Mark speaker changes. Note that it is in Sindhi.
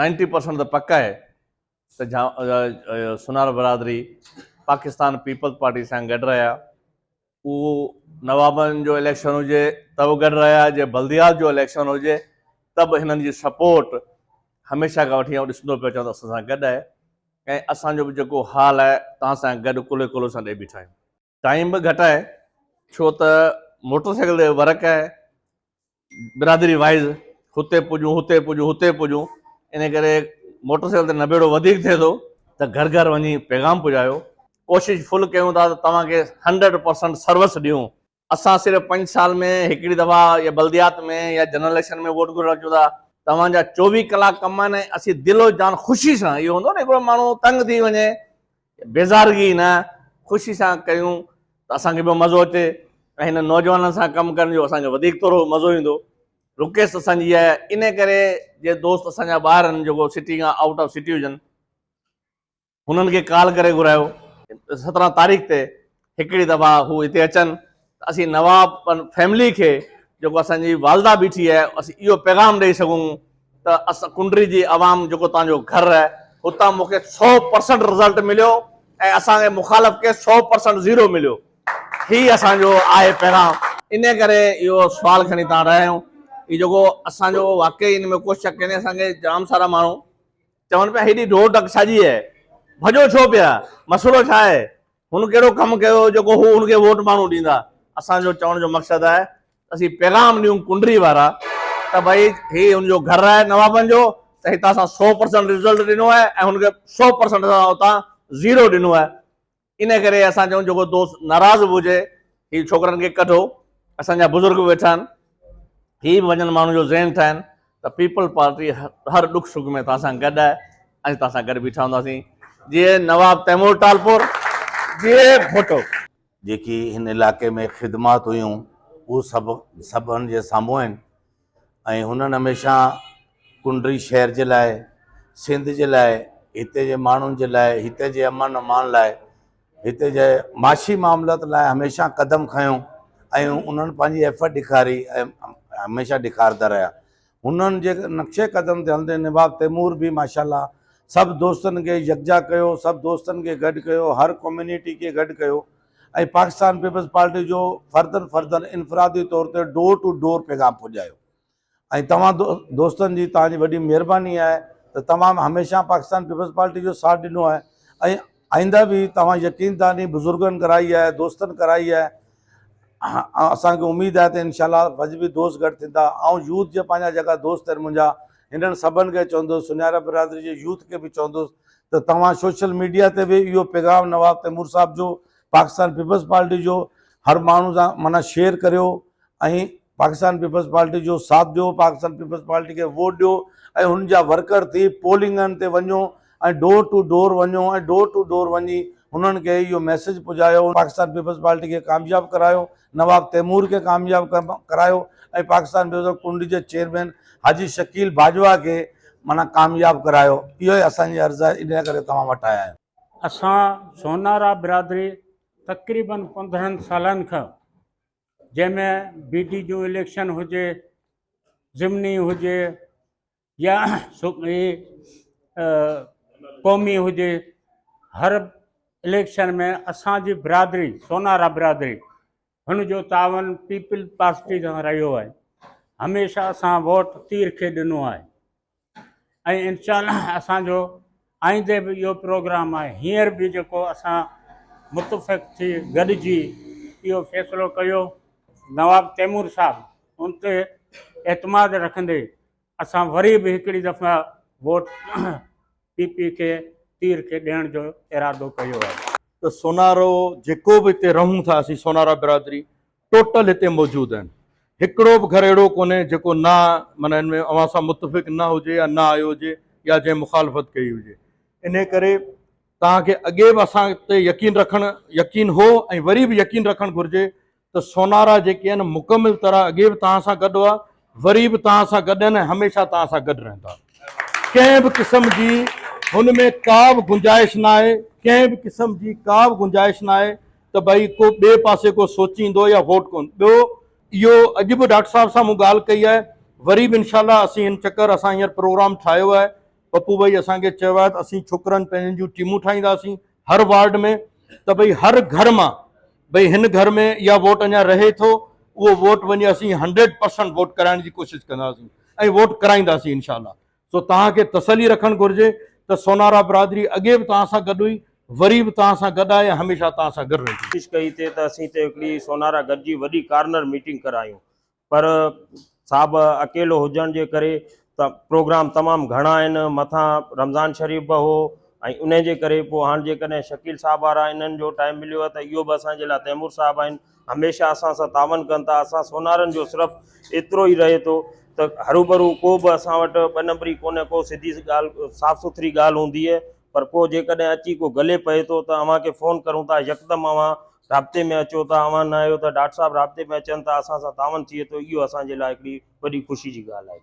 Speaker 1: نائنٽي پرسنٽ ته پڪ آهي ته سونارا برادري پاڪستان پيپلز پارٽي سان گڏ رهيا اهو نوابن جو اليڪشن هجي ته به گڏ رهيا جي بلديات جو اليڪشن هجي ته به هنن جي سپورٽ هميشه کان وٺي آئون ڏسندو پيو اچان ته اسان سان گڏ آهي ۽ اسان جو به جيڪو حال آهي تان سان گڏ ڪلهي ڪلهو سان ڏي بيٺا آهيون ٽائيم به گهٽ آهي ڇو ته موٽر سائيڪل تي ورڪ آهي برادري وائز هتي پڄون هتي پڄون هتي پڄون ان ڪري موٽر سائيڪل تي نبيڙو وڌيڪ ٿئي ٿو ته گهر گهر وڃي پيغام پڄايو ڪوشش فل ڪيون ٿا ته توهان کي هنڊريڊ پرسنٽ سروس ڏيون اسان صرف پنج سال ۾ هڪڙي دفعا يا بلديات ۾ يا جنرل اليڪشن ۾ ووٽ گهرڻ اچون ٿا توهان جا چوويهه ڪلاڪ ڪم آهن ۽ اسين دل و جان خوشي سان اهو هوندو نه هڪڙو ماڻهو تنگ ٿي وڃي بيزارگي نه خوشي سان ڪيون ته اسان کي به مزو اچي ۽ هن نوجوانن سان ڪم ڪرڻ جو اسان کي وڌيڪ ٿورو مزو ايندو. رڪيس اسان جي آهي انهي ڪري جي دوست اسان جا ٻاهر آهن جيڪو سٽي کان آئوٽ آف سٽي هجن هنن کي ڪال ڪري گهرايو سترهن تاريخ تي هڪڙي دفعا هو هتي اچن ته اسين نواب فيملي کي جيڪو اسان جي والده بيٺي آهي اسين اهو پيغام ڏئي سگهون ته اسان ڪنڊري جي عوام جيڪو توهان جو گهر آهي هتان مون کي سو پرسنٽ رزلٽ مليو ۽ اسان کي مخالف کي سو پرسنٽ زيرو مليو هي اسان جو آهي پيغام ان ڪري اهو سوال کڻي تان رهيا آهيون هي جيڪو اسان جو واقعي ان ۾ ڪو شڪ ڪونهي اسان کي جام سارا ماڻهو چون پيا هيڏي ڊوڙ ڊڪ ڇا جي آهي ڀڄو ڇو پيا مسئلو ڇا آهي هن ڪهڙو ڪم ڪيو هو جيڪو هو هن کي ووٽ ماڻهو ڏيندا. اسان جو چوڻ جو مقصد آهي ته اسين پيغام ڏيون ڪنڊري وارا ته ڀئي هي هن جو گهر آهي نوابن جو ته هتان اسان سؤ پرسنٽ رزلٽ ڏنو آهي ۽ هن کي سؤ پرسنٽ اسان اتان زيرو ڏنو آهي ان ڪري اسان چون جيڪو دوست ناراض به هجي هي ڇوڪرن کي ڪڍو اسان جا بزرگ به ويٺا آهن هي به وڃن ماڻهن جو ذهن ٺاهن ته پيپلز پارٽي هر ڏک سک ۾ توهان سان گڏ آهي ۽ توهان سان گڏ بيٺا هونداسين جي نواب تيمور ٽالپور جي ڀٽو جيڪي
Speaker 2: هن علائقي ۾ خدمات هيون اهو سڀ سڀن جي سامهون آهن. ۽ هنن هميشه ڪنڊري شهر جي لاء، سنڌ جي لاء، هتي جي ماڻهن جي لاء، هتي جي امن امان لاء، هتي جي معاشي معاملات لاء هميشه قدم کنيو ۽ انهن پنهنجي ايفرٽ ڏيکاري ۽ هميشه ڏيکارندا رهيا. هنن جي نقشي قدم تي هلندي نواب تيمور به ماشاء الله سڀ دوستن کي يڪجا ڪيو، سڀ دوستن کي گڏ ڪيو، هر ڪميونٽي کي گڏ ڪيو. ۽ پاڪستان پيپلز پارٽي جو فردن فردن انفرادي طور تي ڊور ٽو ڊور پيغام پڄايو ۽ توهان دوستن جي توهان جي وڏي مهرباني آهي ته توهان هميشه پاڪستان پيپلز پارٽي جو ساٿ ڏنو آهي ۽ آئنده به توهان يقين داني بزرگن ڪرائي آهي دوستن ڪرائي آهي اسان کي اميد آهي ته انشاء الله وجبي دوست گڏ ٿيندا آئون يوٿ جي پنهنجا جيڪا دوست آهن منهنجا هنن سڀن کي چوندوس، سنيارا برادري جي يوٿ کي به چوندوس ته توهان سوشل ميڊيا تي به اهو پيغام نواب تيمور صاحب جو، پاڪستان پيپلز پارٽي جو هر ماڻهو سان معنيٰ شيئر ڪريو ۽ پاڪستان پيپلز پارٽي جو ساٿ ڏيو، پاڪستان پيپلز پارٽي کي ووٽ ڏيو ۽ هن جا ورڪر ٿي پولنگن تي وڃو. ۽ ڊور ٽو ڊور وڃو ۽ ڊور ٽو ڊور وڃي هنن کي اهو ميسيج پڄايو پاڪستان پيپلز پارٽي کي ڪامياب ڪرايو نواب تيمور کي ڪامياب ڪرايو ۽ پاڪستان بزرگ ڪنڊ جي چيئرمين حاجي شڪيل باجوا کي معنيٰ ڪامياب ڪرايو اهو ئي اسان جي عرض آهي انهي ڪري توهان وٽ آيا آهيون. اسان
Speaker 3: سونارا برادري تقريباً پندرهن سالن کان جنهن ۾ بي ڊي جون اليڪشن هجي ضمني هجي يا قومي هجي هر اليڪشن ۾ اسان جي برادري سونارا برادري هن جو تعاون پيپل پارٽي سان رهيو آهي هميشه اسان ووٽ تير کي ڏنو آهي ۽ انشاء الله اسان جو آئيندي به اهو پروگرام آهي هينئر به جيڪو اسان متفق ٿي گڏجي اهو فيصلو ڪيو نواب تيمور صاحب ان تي اعتماد رکندي اسان وري به هڪڙي دفعا ووٽ پي پي کي تير کي ڏيڻ جو ارادو ڪيو آهي. ته سونارو
Speaker 4: جيڪو به هتي رهون ٿا اسين سونارا برادري ٽوٽل هتي موجود آهن هڪڙو به گهر اهڙو ڪونهي جيڪو نه معنيٰ ان ۾ اوهان سان متفق نه هجي يا نه آيو هجي يا جنهن مخالفت ڪئي هجي انهي ڪري توهان کي اڳي به اسان تي يقين رکڻ يقين هو ۽ وري به يقين رکڻ گهرجي ته سونارا جيڪي آهن مڪمل طرح اڳي به توهان سان گڏ هئا وري به توهان سان گڏ آهن ۽ هميشه توهان سان گڏ رهندا. ڪنهن به قسم جي هن ۾ ڪا به گنجائش ناهي، ڪنهن به قسم جي ڪا به گنجائش ناهي ته ڀئي ڪو ٻئي پاسي ڪو سوچيندو يا ووٽ ڪون ٻيو اهو اڄ به ڊاڪٽر صاحب سان مون ڳالهه ڪئي آهي وري به انشاء الله اسين هن چڪر اسان هينئر پروگرام ٺاهيو آهي پپو ڀائي اسان کي چيو آهي ته اسين ڇوڪرن پنهنجن جون ٽيمون ٺاهينداسين هر وارڊ ۾ ته ڀئي هر گهر مان ڀئي هن گهر ۾ اها ووٽ اڃا رهي ٿو اهو ووٽ وڃي اسين هنڊريڊ پرسنٽ ووٽ ڪرائڻ جي ڪوشش ڪنداسين ۽ ووٽ ڪرائينداسين انشاء الله سو توهان کي تسلي رکڻ گهرجي ته سونارا برادري اڳي به توهان سان گڏ هئي وري به توهان سان گڏ آهي هميشه توهان سان گڏ رهندي. ڪوشش ڪئي ته اسين
Speaker 5: هتي هڪڙي سونارا گڏجي وڏي ڪارنر ميٽنگ ڪرايون پر صاحب اڪيلو هجڻ جي ڪري ته پروگرام تمام گهڻا آهن مٿان رمضان شريف به هو ۽ انهي جي ڪري پوء هاڻ جيڪڏهن شڪيل صاحب وارا انهن جو ٽائيم مليو آهي ته اهو به اسان جي لاء تيمور صاحب آهن هميشه اسان سان تعاون ڪن ٿا اسان سونارن جو صرف ايترو ئي رهي ٿو ته هروڀرو ڪو به اسان وٽ ٻه نمبري ڪونهي ڪو سڌي ڳالهه صاف سٿري ڳالهه هوندي پر ڪو جيڪڏهن اچي ڪو گلي پئي ٿو ته اوهان کي فون ڪرون ٿا يڪدم اوهان رابطي ۾ اچو ٿا اوهان نه آهيو ته ڊاٽ صاحب رابطي ۾ اچن ٿا اسان سان تعاون ٿئي ٿو اهو اسان جي لاء هڪڙي وڏي خوشي جي ڳالهه آهي